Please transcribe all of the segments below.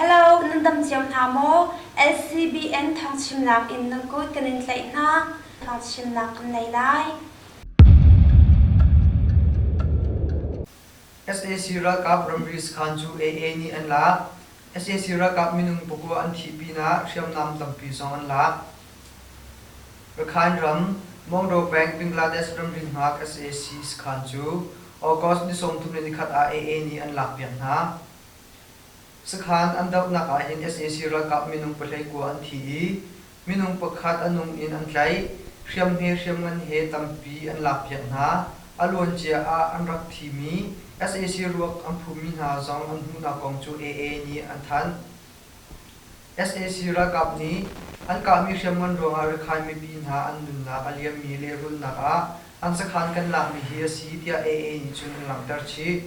Hello, nan dam ciam hna maw? LCBN thangchimnak in nan kut kan in tlaih hna. Thangchimnak kan nei lai. SAC ralkap ramri sakhan cu AA nih an lak. SAC ralkap minung puku an thih pinah hriamnam tampi zong an lak. Rakhine ram Moldovang, Bangladesh ramri hngak sac sakhan cu August ni sawmthum le nikhat ah AA nih an lak piak hna. Sakhan an dohnak ahhin sac ralkap minung pahlei kua an thi i minung pakhat a nung in an tlaih, hriamhme hriamngan he tampi an lak piak hna. A luancia ah an rak thimi sac ruak an phummi hna zong an hmuhnak kong cu AA nih an thanh. sac ralkap nih an kahmi hriamngan ruangah Rakhine mipi hna an nunnak a liammi lehrulnak ah an sakhan kan lakmi hi a si tiah AA nih cun an langhter chih.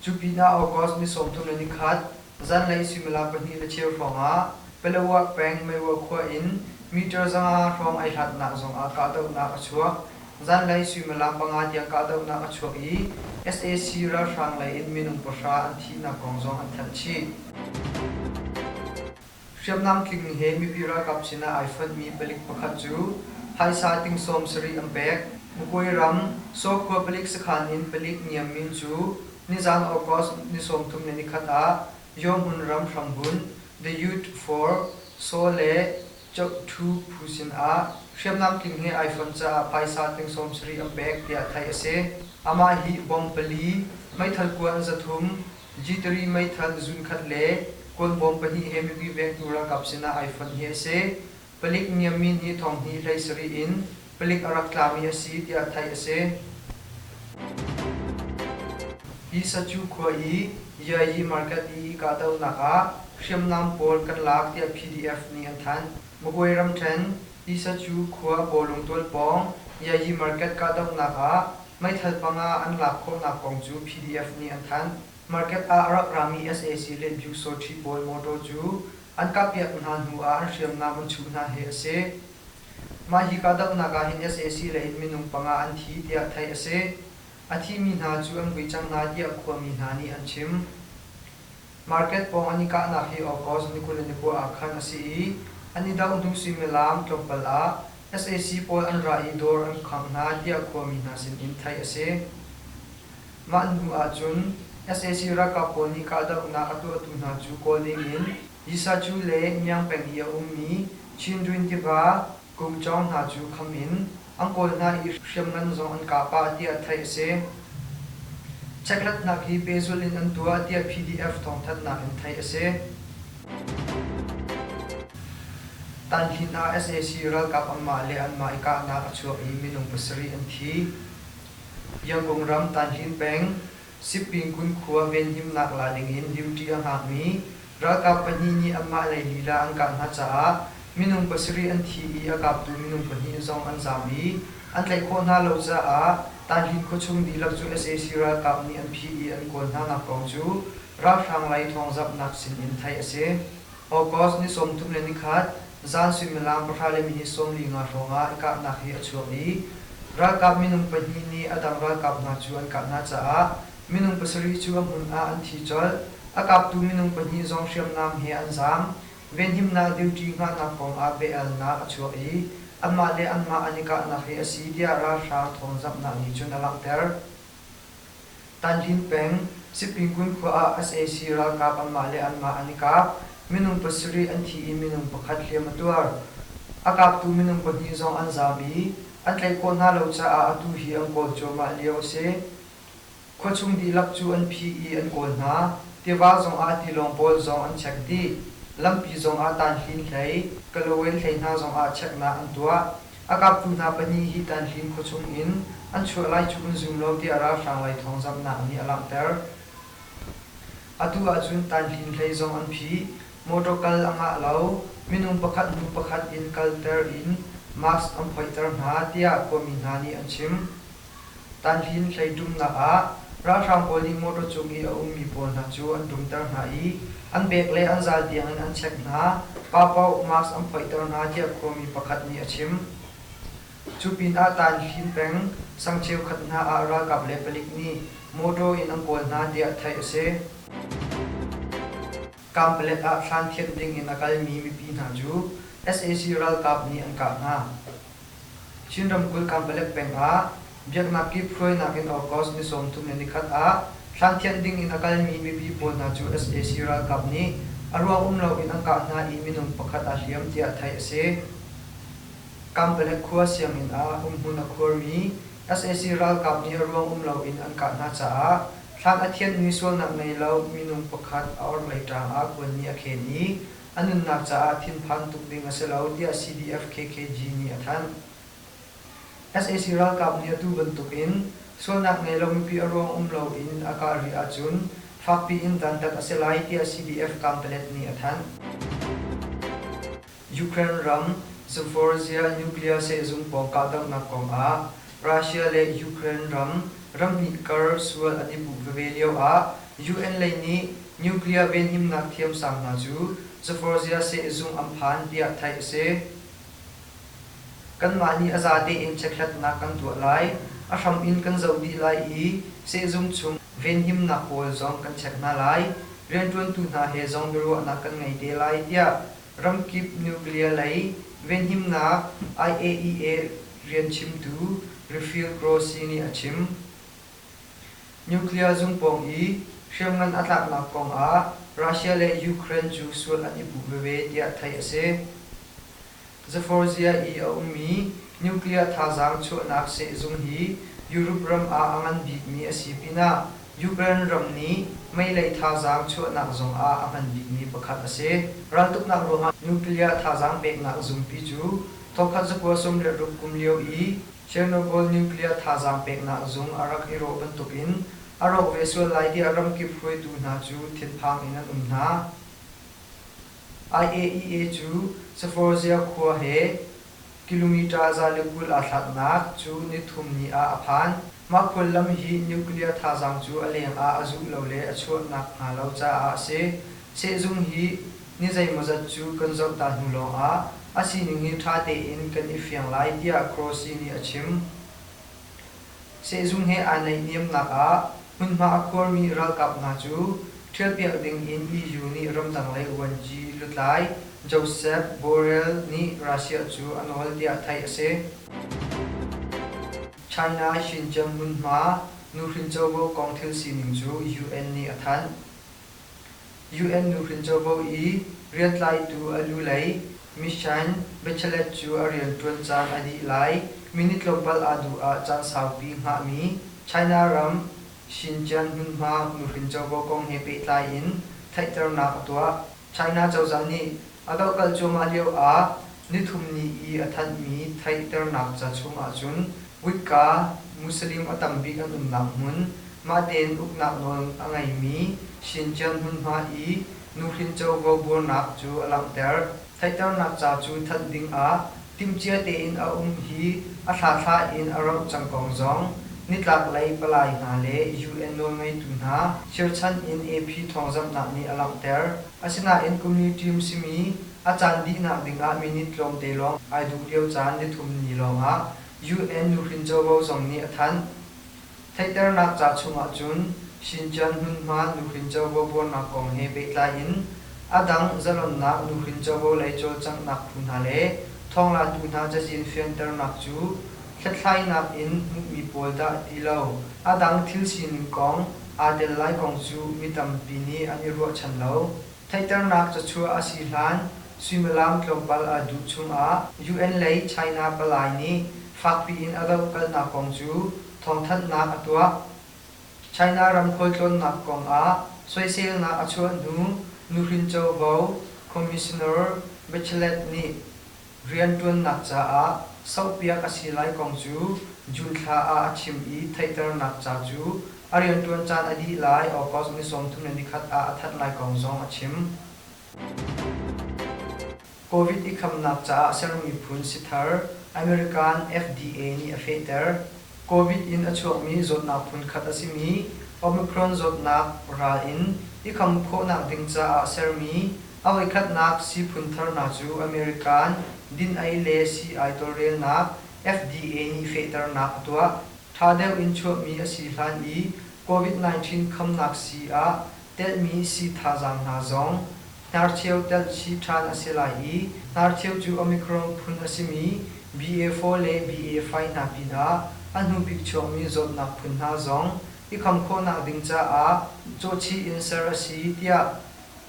Cu pinah August ni sawmthum le ni khat zanlei suimilam pahnih le cheu hrawngah Palawah peng Maiwa khua in meter zanga hrawng ai hlatnak zongah kahdohnak a chuak. Zanlei suimilam panga tiang kahdohnak a chuak i sac ralhrang lei in minung pahra an thihnak kong zong an thanh chih. Hriamnam tling he mipi ralkap sinah ai fonhmi palik pakhat cu phaisa ting sawmsarih an pek. Mukuai ram Sokhua palik sakhan in palik niam min cu nizan August ni sawmthum le ni khat ah Yawhmun ram hrambunh The Youth for Saw le Cheuhthu phu sinah hriamnam tling he iPhone caah phaisa tling sawmsarih an pek tiah theih a si. Amah hi bawm pali, meithal kuan zathum, Jitari meithal zunkhat le kuan bawm pahnih he mipi vengtu ralkap sinah iPhone hi a si. Palik Niammin hi thong hnih hlei sarih in Palik a rak tlami a si tiah theih a si. Pisachu khua i Yayi Market i kahdohnak ah hriamnam pawl kan lak tiah PDF nih an thanh. Magway ramṭhen Pisachu khua Bawlungtual pawng Yayi Market kahdohnak ah meithal panga an lak khawhnak kong cu PDF nih an thanh. Market ah a rak rami sac le Byuksaw ṭhi pawl motor cu an kahpiak hna hnu ah an hriamnam an chuh hna hi a si. Mah hi kahdohnak ah hin sac lei in minung panga an thi tiah theih a si. A thimi hna cu an vui cang hna tiah khuami hna nih an chim. Market pawng an i kahnak hi August ni kul le ni kua ah khan a si i an i doh hnu suimilam tlawmpal ah sac pawl an ra i dawr an khangh hna tiah khuami hna sin in theih a si. Mah hnu ahcun sac ralkap pawl nih kahdohnak a tuahtu hna cu kawl ding in Yisacu le Iang peng i a ummi Chindwin tiva kum cawng hna cu kham in an kawl hna i hriamngan zong an kah pah tiah theih a si. Checkhlatnak hi pehzulh in an tuah tiah PDF thawngthanhnak in theih a si. Tanhlin ah sac ralkap anmah le anmah i kahnak a chuakmi minung pasarih an thi. Yakung ram Tanhlin peng Sipingkun khua venhimnak la dingin duty a hngakmi ralkap pahnih nih anmah lei lila an kah hna caah minung pasarih an thi i a kaptu minung pahnih zong an zaam i an tlaih khawh hna lo caah Tahlin khuachung dihlak cu sac ralkap nih an phih i an kawl hnanak kong cu ralhrang lei thawngzamhnak sin in theih a si. August ni sawmthum le nikhat, zan suimilam pahra le mini sawm li nga hrawngah kahnak hi a chuak i ralkap minung pahnih nih a dang ralkap hna cu an kah hna caah minung pasarih cu a hmun ah an thi colh. A kaptu minung pahnih zong hriamnam he an zaam. Venhimnak duty hngahnak kongah bia-alnak a chuak i anmah le anmah an i kahnak hi a si tiah ralhrang thawngzamhnak nih cun a langhter. Tanhlin peng Sipingun khua ah sac ralkap anmah le anmah an i kap. Minung pasarih an thi i minung pakhat hliam a tuar. A kaptu minung pahnih zong an zaam i an tlaih khawh hna lo caah atu hi an kawl cuahmah lio a si. Khuachung dihlak cu an phi i an kawl hna. Tiva zong ah tilawng pawl zong an chek dih. Lampi zong ah tanhlin hlei, Kalawain hlei hna zong ah cheknak an tuah. A kaptu hna pahnih hi Tanhlim khuachung in an chuah lai cu an zum lo tiah ralhrang raithawngzamhnak nih a langhter. Atu ahcun Tanhlim hlei zong an phih. Motor kal a ngah lo. Minung pakhat hnu pakhat in kalter in mask an phoihter hna, tiah khuami hna nih an chim. Tanhlin hleiṭumnak ah ralhrang pawl nih motor cung i a ummi pawl hna cu an dumter hna i an bek le an zal tiangin an check hna, paoh mask an phoihter hna tiah khuami pakhat nih a chim. Cu pinah Tanhlin peng sang cheukhat hna ah ralkap le palik nih motor in an kawl hna tiah theih a si. Kamplet ah hlan thianh dingin a kalmi mipi hna cu sac ralkap nih an kah hna. Chin ramkulh Kanpalek peng ah biaknak kiphruainak in August ni sawmthum le nikhat ah thlanthianh ding in a kalmi mipi pawl hna cu sac ralkap nih a ruang um loin an kah hna i minung pakhat aa hliam tiah theih a si. Kanpalek khua sianginn ah umhmun a khuarmi sac ralkap nih a ruang um loin an kah hna caah thlan a thianh mi sualnak ngei lo minung pakhat a orhlei ṭang ah kuanni a khen i a nunnak caah thinphan tuk ding a si lo tiah CBF-KKG nih a thanh. Sac ralkap nih atu bantuk in sualnak ngei lo mipi a ruang um lo in a kah rih ahcun fakpi in dantat a si lai tiah CBF Kampelet nih a thanh. Ukraine ram Zaporizhzhia nuclear sehzung pawng kahdohnak kong ah Russia le Ukraine ram ramhnih kar sual a tipum veve lio ah UN lei nih nuclear venhimnak thiamsang hna cu Zaporizhzhia sehzung an phan tiah theih a si. Kanmah nih a zate in checkhlatnak kan tuah lai, a hram in kan zoh dih lai i sehzung chung venhimnak pawl zong kan check hna lai, rianṭuantu hna he zong biaruahnak kan ngei te lai tiah ramkip nuclear lei venhimnak IAEA rianchimtu Raphael Grossi nih a chim. Nuclear zung pawng i hriamngan a tlaknak kongah Russia le Ukraine cu sual an i puh veve tiah theih a si. Zaporizhzhia i a ummi nuclear thazaang chuahnak sehzung hi Europe ram ah a ngan bikmi a si pinah Ukraine ram nih meilei thazaang chuahnak zongah a hman bikmi pakhat a si. Raltuknak ruangah nuclear thazaang peknak zungpi cu thawkkhat zakua sawm le ruk kum lio i Chernobyl nuclear thazaang peknak zung a rak i rawh bantukin a rawk ve sual lai tiah ramkip hruaitu hna cu thinphang in an um hna. IAEA cu Zaporizhzhia khua he Kilometre za le kul aa thlaknak cu nithum ni ah a phan. Mah khuallam hi nuclear thazaang cu a lengah a zuh lo le a chuah nakhnga lo caah a si. Sehzung hi ni zeimawzat cu kan zohta hnu lawngah a sining hi ṭha tein kan i fiang lai tiah Croce nih a chim. Sehzung he aa naihniamnak ah hmunhma a khuarmi ralkap hna cu ṭhialpiak ding in EU nih ramdang-lei vuanci lutlai Josep Borrell nih Russia cu a nawl tiah theih a si. China Xinjiang hmunhma nuhrin covo kong thil sining cu UN nih a thanh. UN nuhrin covo i riatlaitu a lu lei Mishain Bachelet cu a rianṭuan caan a dih lai, minute tlawmpal aa duh ah caan saupi hngahmi China ram Xinjiang hmunhma nuhrin covo kong he pehtlai in theihternak a tuah. China cozah nih a dohkalh cuahmah lio ah Nithum ni i a thanhmi theihternak ca chungah cun kutka Muslim a tam bik an umnak hmun, mah tein uknak nawl a ngeimi Shintian hmunhma i nuhrin covo buarnak cu a langhter. Theihternak ca cu thanh dingah timhcia tein a um hi a thlatha in a rauh cang kong zong nitlaklei palai hna le UN nawlngeitu hna cherchanh in AP thawngzamhnak nih a langhter. Asinain community um simi A caan dihnak dingah minute tlawmte lawng ai duh lio caan nithum ni lawngah UN nuhrin covo zong nih a thanh. Theihternak ca chungah cun Xinjiang hmunhma nuhrin covo buarnak kong he pehtlai in a dang zalonnak nuhrin covo lei cawlcanghnak phu hna le thawnglatu hna cazin fianternak cu hlethlainak in hmuhmi pawl dah ti lo, a dang thil sining kong aa tel lai kong cu mi tampi nih an i ruahchan lo. Theihternak cachuah a si hlan suimilam tlawmpal a duh chungah UN lei China palai nih fakpi in a dohkalhnak kong cu thawngthanhnak a tuah. China ram khualtlawnnak kong ah soiselnak a chuah hnu nuhrin covo commissioner Bachelet nih Rianṭuannak caah sohpiak a si lai kong cu June thla ah a chim i theihternak ca cu a rianṭuan caan a dih lai August ni sawmthum le nikhat ah a that lai kong zong a chim. Covid i khamnak caah sermi phun si thar American FDA nih a fehter. Covid in a chuakmi zawtnak phunkhat a simi Omicron zawtnak ral in i kham khawhnak ding caah sermi a voikhatnak sii phun tharnak cu American din-ei le sii-ai tawlrelnak, FDA nih fehternak a tuah. Ṭha deuh in chuahmi a si hlan i Covid-19 khamnak sii ah telhmi sii thazaang hna zong Hnarcheu telh chih ṭhan a si lai i hnarcheu cu Omicron phun a simi BA4 le BA5 hna pinah a hnubik chuakmi zawtnak phun hna zong i kham khawhnak ding caah cawhchih in ser a si tiah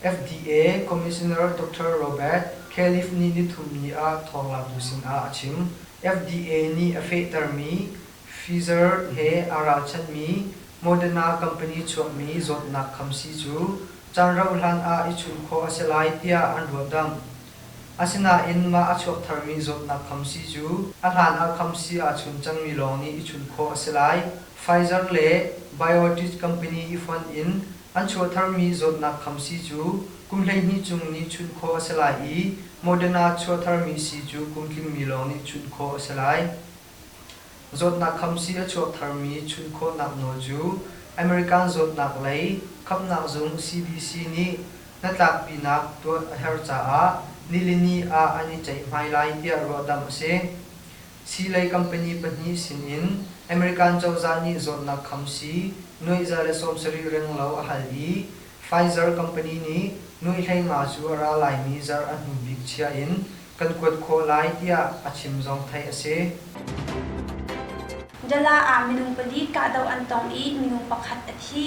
FDA Commissioner Doctor Robert Califf nih nithum ni ah thawng laktu sinah a chim. FDA nih a fehtermi Pfizer he aa ralchanhmi Moderna company chuahmi zawtnak khamsi cu caan rauhhlan ah i chun khawh a si lai tiah an ruahdamh. Asinain mah a chuak tharmi zawtnak khamsi cu a hlan ah khamsi aa chun cangmi lawng nih i chun khawh a si lai. Pfizer le BioNTech company i fonh in an chuah tharmi zawtnak khamsi cu kum hleihnih chung nih chunh khawh a si lai i Moderna chuah tharmi si cu kum tlingmi lawng nih chunh khawh a si lai. Zawtnak khamsii a chuak tharmi chun khawhnak nawl cu American zawtnak lei khamhnak zung CDC nih hnatlakpinak tuah a herh caah nilini ah an i ceihmai lai tiah ruahdamh a si. Sii lei company pahnih sinin American cozah nih zawtnak khamsii nuaih za le sawm sarih renglo a hal i Pfizer company nih nuihhlei nga cu a ra laimi zarh a hnu bik chia in kan kuat khawh lai tiah a chim zong theih a si. Dala ah minung pali kahdoh an tong i minung pakhat a thi.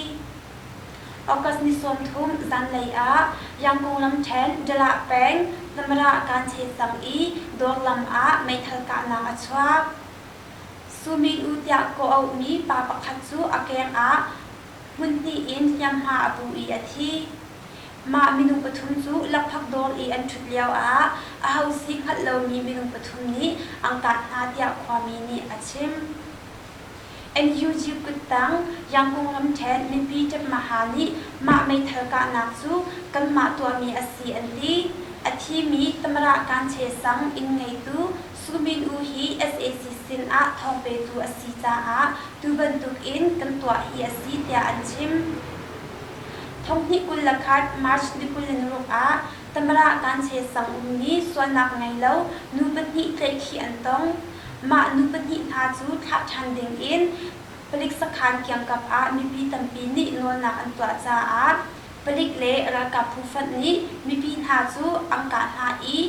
August ni sawmthum zanlei ah Yangkung lamṭhen Dalah peng Zamara-Kanche tang i dawr lam ah meithal kahnak a chuak. Su Min-u tiah kawh auhmi pa pakhat cu a keng ah hmunhnih in hnianghma a pu i a thi. Mah minung pathum cu lakphak dawr i an ṭhut lioah aho si hngalh lomi minung pathum nih an kah hna tiah khuami nih a chim. NUG kuttang Yangkung ramṭhen mipi ṭepmaha nih mah meithal kahnak cu kanmah tuahmi a si an ti. A thimi Tamarah Kanche sang inn ngeitu Pu Min U hi sac sin ah thawng petu a si caah tu bantuk in kan tuah hi a si tiah an chim. Thonghnih kul le khat March ni kul le naruk ah Tamrah Kanche sang ummi sualnak ngei lo nu pahnih tlaihkhih an tong. Mah nu pahnih hna cu thlah ṭhan ding in palik sakhan kiangkap ah mipi tampi nih nawlnak an tuah caah palik le ralkap phu fanh nih mipi hna cu an kah hna i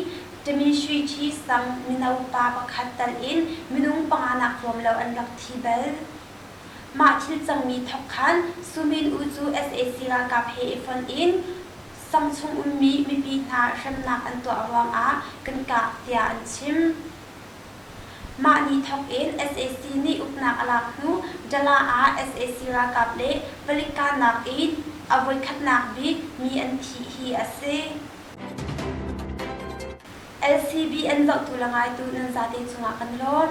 Timi Shwe Kyi Sang mino pa pakhat tal in minung panga nak hlawm lo an rak thi bal. Mah thil cangmi thawk khan Su Min U cu sac ralkap he i fonh in sang chung ummi mipi hna hremnak an tuah ruangah kan kah tiah an chim. Mah ni thawk in sac nih uknak a lak hnu Dala ah sac ralkap le palik kahnak in a voikhatnak bik mi an thih hi a si. LCB an zohtu le ngaitu nan zate cungah kan lawn.